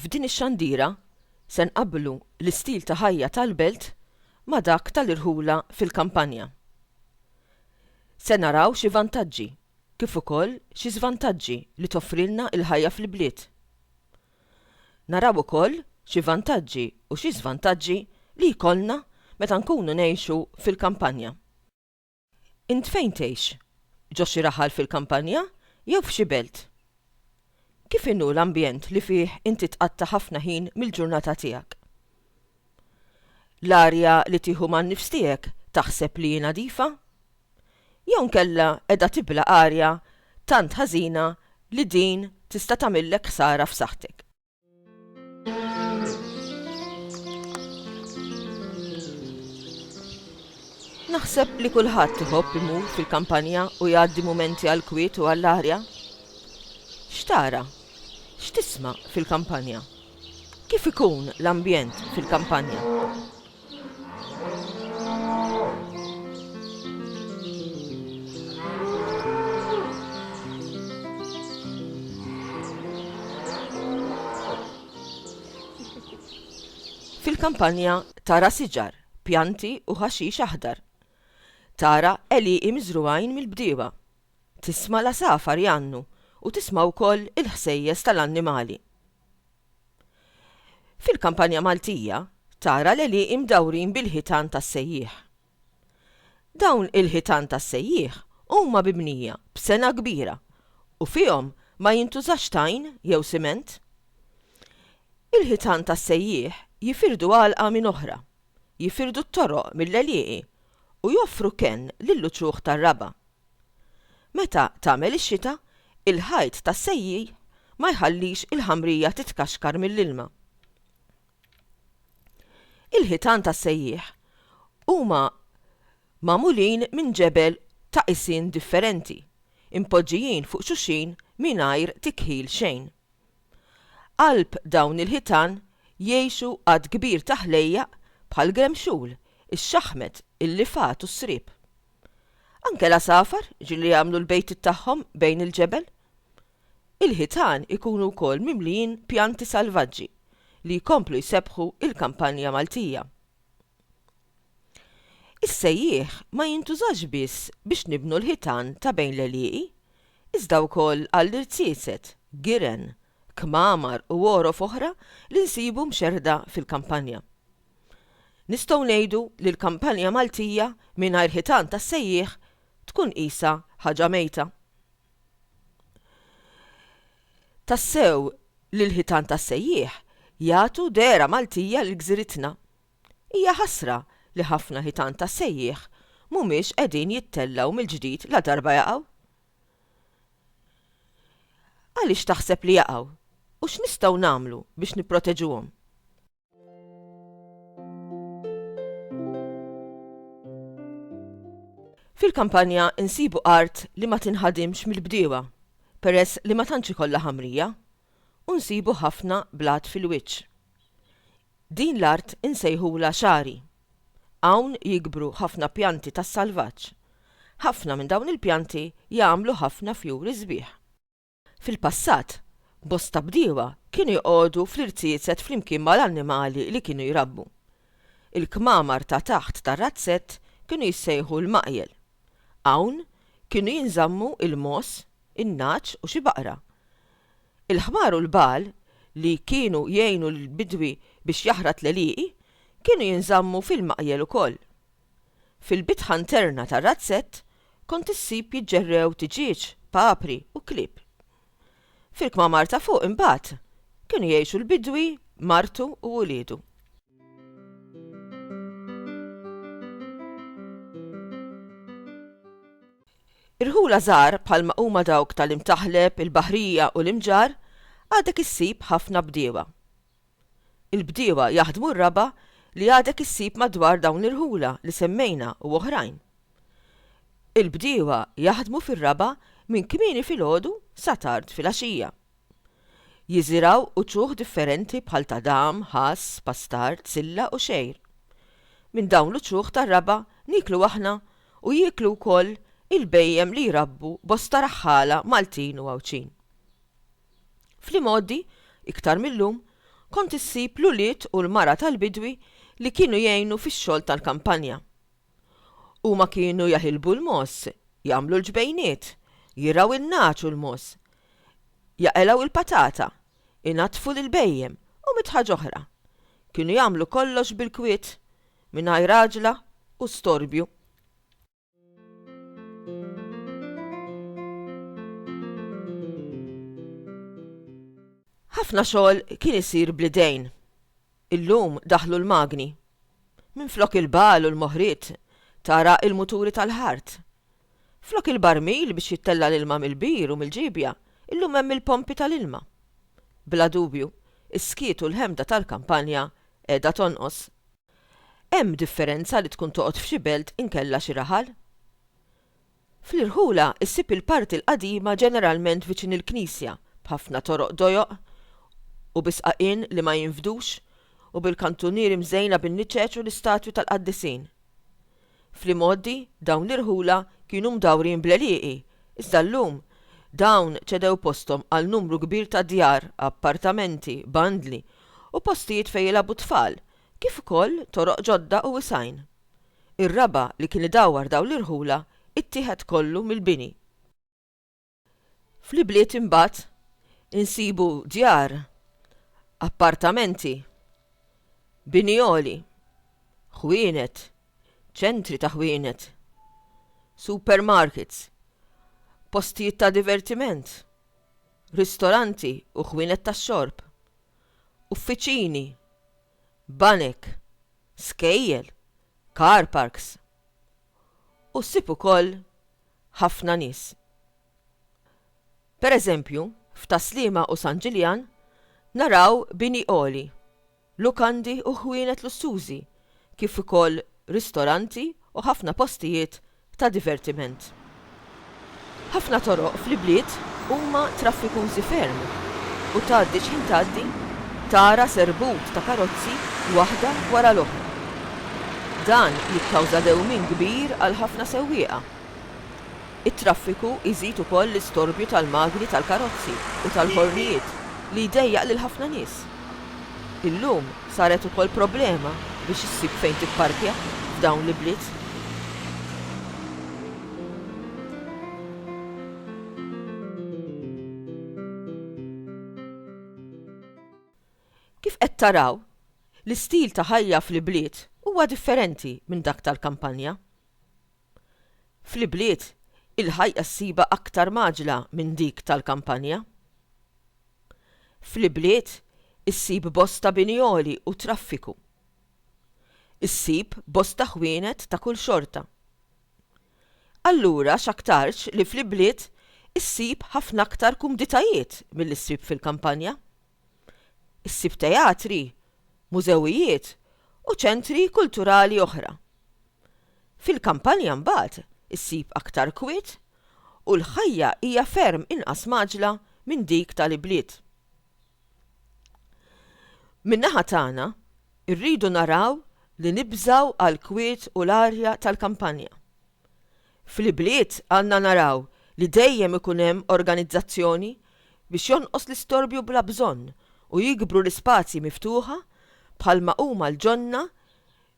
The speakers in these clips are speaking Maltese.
F'din ix-xandira se nqabblu l-istil ta' ħajja tal-belt ma' dak tal-irħula fil-kampanja. Se naraw xi vantaġġi kif ukoll xi żvantaġġi li toffrilna l-ħajja fil-bliet. Naraw ukoll xi vantaġġi u xi żvantaġġi li jkollna meta nkunu ngħixu fil-kampanja. Int fejn tgħix? Ġo xi raħal fil-kampanja jew f'xi belt? Kif inhu l-ambjent li fih inti tqatta' ħafna ħin mill-ġurnata tiegħek? L-arja li tieħu man-nifs tiegħek taħseb li hi nadifa? Jew inkella qiegħda tibla' arja tant ħażina li din tista' tagħmillek ħsara f'saħħtek? Naħseb li kulħadd iħobb imur fil-kampanja u jgħaddi mumenti għall-kwiet u għall-arja. X'tara? X'tisma' fil-kampanja? Kif ikun l-ambjent fil-kampanja? Fil-kampanja tara siġar, pjanti u ħaxix aħdar. Tara għelieqi miżrugħin mill-bdiewa. Tisma' l-għasafar jgħannu u tisma' wkoll il-ħsejjes tal-annimali. Fil-kampanja Maltija, tara l-għelieqi mdawrin bil-ħitan tas-sejjieħ. Dawn il-ħitan tas-sejjieħ huma bibnija b'sengħa kbira u fihom ma jintużax tajn jew siment. Il-ħitan tas-sejjieħ jifirdu għalqa minn oħra, jifirdu t-toroq mill-għelieqi u joffru kenn lill-uċuħ tar-raba'. Meta tagħmel ix-xita, il-ħajt tas-sejjieħ ma jħallix il-ħamrija titkaxkar mill-ilma. Il-ħitan tas-sejjieħ huma magħmulin minn ġebel ta' qisien differenti, impoġġijin fuq xulxin mingħajr tikħil xejn. Qalb dawn il-ħitan jgħixu għadd kbir ta' ħlejjaq bħall-gremxul, ix-xaħmet, il-lifgħat u s-sriep. Anke l-għasafar, ġieli jagħmlu l-bejtiet tagħhom bejn il-ġebel. Il-ħitan ikunu wkoll mimlijin pjanti salvaġġi li jkomplu jsebbħu l-kampanja Maltija. Is-sejjieħ ma jintużax biss biex nibnu l-ħitan ta' bejn l-għelieqi, iżda wkoll għall-irziezet, giren, kmamar u għorof oħra li nsibu mxerrda fil-kampanja. Nistgħu ngħidu li l-kampanja Maltija mingħajr ħitan tas-sejjieħ tkun qisha ħaġa mejta. Tassew li l-ħitan tas-sejjieħ jagħtu dehra Maltija lil gżiritna. Hija ħasra li ħafna ħitan tas-sejjieħ mhumiex qegħdin jittellgħu mill-ġdid ladarba jaqgħu. Għaliex taħseb li jaqgħu u x'nistgħu nagħmlu biex nipproteġuhom? Fil-kampanja insibu art li ma tinħadimx mill-bdiewa peress li ma tantx ikollha ħamrija u nsibu ħafna blat fil-wiċċ. Din l-art insejħulha xagħri. Hawn jikbru ħafna pjanti tas-salvaġġ. Ħafna minn dawn il-pjanti jagħmlu ħafna fjuri sbieħ. Fil-passat, bosta bdiewa kienu joqogħdu fl-irziezet flimkien mal-annimali li kienu jrabbu. Il-kmamar ta' taħt tar-razzett kienu jissejħu l-maqjel. Hawn kienu jinżammu l-mogħoż, in-nagħaġ u xi baqra. Il-ħmar u l-bagħal li kienu jgħinu lill-bidwi biex jaħrat l-għelieqi kienu jinżammu fil-maqjel ukoll. Fil-bitħa nterna tar-razzett kont issib jiġġerrew tiġieġ, papri u klieb. Fil-kmamar ta' fuq imbagħad kienu jgħixu l-bidwi, martu u uliedu. Irħula żgħar bħalma huma dawk tal-Imtaħleb, il-Baħrija u l-Imġarr għadek issib ħafna bdiewa. Il-bdiewa jaħdmu r-raba' li għadek issib madwar dawn l-irħula li semmejna u oħrajn. Il-bdiewa jaħdmu fir-raba' minn kmieni filgħodu sa tard filgħaxija. Jiżirgħu uċuħ differenti bħal tadam, ħass, pastard, silla u xgħir. Minn dawn l-uċuħ tar-raba' nieklu aħna u jieklu wkoll il-bhejjem li jrabbu bosta raħħala Maltin u Għawdxin. Fl-imgħoddi, iktar mil-lum, kont issib l-ulied u l-mara tal-bidwi li kienu jgħinu fix-xogħol tal-kampanja. Huma kienu jaħilbu l-mogħoż, jagħmlu l-ġbejniet, jirgħu in-nagħaġ u l-mogħoż, jaqelgħu il-patata, inaddfu l-ilbejjem u mitt ħaġa oħra. Kienu jagħmlu kollox bil-kwiet, mingħajr għaġla u storbju. Ħafna xogħol kien isir bl-idejn. Illum daħlu l-magni. Minflok il-bagħal u l-moħriet, tara l-muturi tal-ħart. Flok il-barmil biex jittella' l-ilma mill-bir u mill-ġiebja, illum hemm il-pompi tal-ilma. Bla dubju, is-skiet u l-ħemda tal-kampanja qiegħda tonqos. Hemm differenza li tkun toqgħod f'xi belt inkella xi raħal? Fl-irħula ssib il-parti l-qadima ġeneralment viċin il-knisja b'ħafna toroq dojoq u bi sqaqien li ma jinfdux u bil-kantunieri mżejna bin-niċeċ u l-istatwi tal-qaddisin. Fl-imgħoddi, dawn l-irħula kienu mdawrin bl-għelieqi, iżda llum, dawn ċedew posthom għal numru kbir ta' djar, appartamenti, bandli, u postijiet fejn jilgħabu t-tfal, kif ukoll toroq ġodda u wisgħin. Ir-raba' li kien idawwar dawn l-irħula ittieħed kollu mill-bini. Fl-ibliet imbagħad insibu djar, appartamenti, bini għoli, ħwienet, ċentri ta' ħwienet, supermarkets, postijiet ta' divertiment, ristoranti u ħwienet tax-xorb, uffiċini, banek, skejjel, car parks. U ssib ukoll ħafna nies. Pereżempju, f'Tas-Sliema u San Ġiljan naraw bini għoli, lukandi u ħwienet lussużi kif ukoll ristoranti u ħafna postijiet ta' divertiment. Ħafna toroq fl-ibliet huma traffikużi ferm u tgħaddi x'ħin tgħaddi tara serbut ta' karozzi waħda wara l-oħra. Dan jikkawża dewmien kbir għal ħafna sewwieqa. It-traffiku jżid ukoll l-istorbju tal-magni tal-karozzi u tal-ħornijiet li jdejjaq lil ħafna nies. Illum saret ukoll problema biex issib fejn tipparkja f'dawn l-ibliet. Kif qed taraw, l-istil ta' ħajja fl-ibliet huwa differenti minn dak tal-kampanja. Fl-ibliet, il-ħajja ssibha aktar mgħaġġla minn dik tal-kampanja. Fl-ibliet, issib bosta bini għoli u traffiku. Issib bosta ħwienet ta' kull xorta. Allura x'aktarx li fl-ibliet issib ħafna aktar kumditajiet milli ssib fil-kampanja. issib teatri, mużewijiet u ċentri kulturali oħra. Fil-kampanja mbagħad issib aktar kwiet u l-ħajja hija ferm inqas mgħaġġla minn dik tal-ibliet. Min-naħa tagħna, irridu naraw li nibżgħu għall-kwiet u l-arja tal-kampanja. Fl-ibliet għandna naraw li dejjem ikun hemm organizzazzjoni biex jonqos l-istorbju bla bżonn u jikbru l-ispazji miftuħa bħalma huma l-ġonna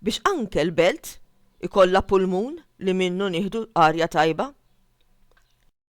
biex anke l-belt ikollha pulmun li minnu nieħdu arja tajba.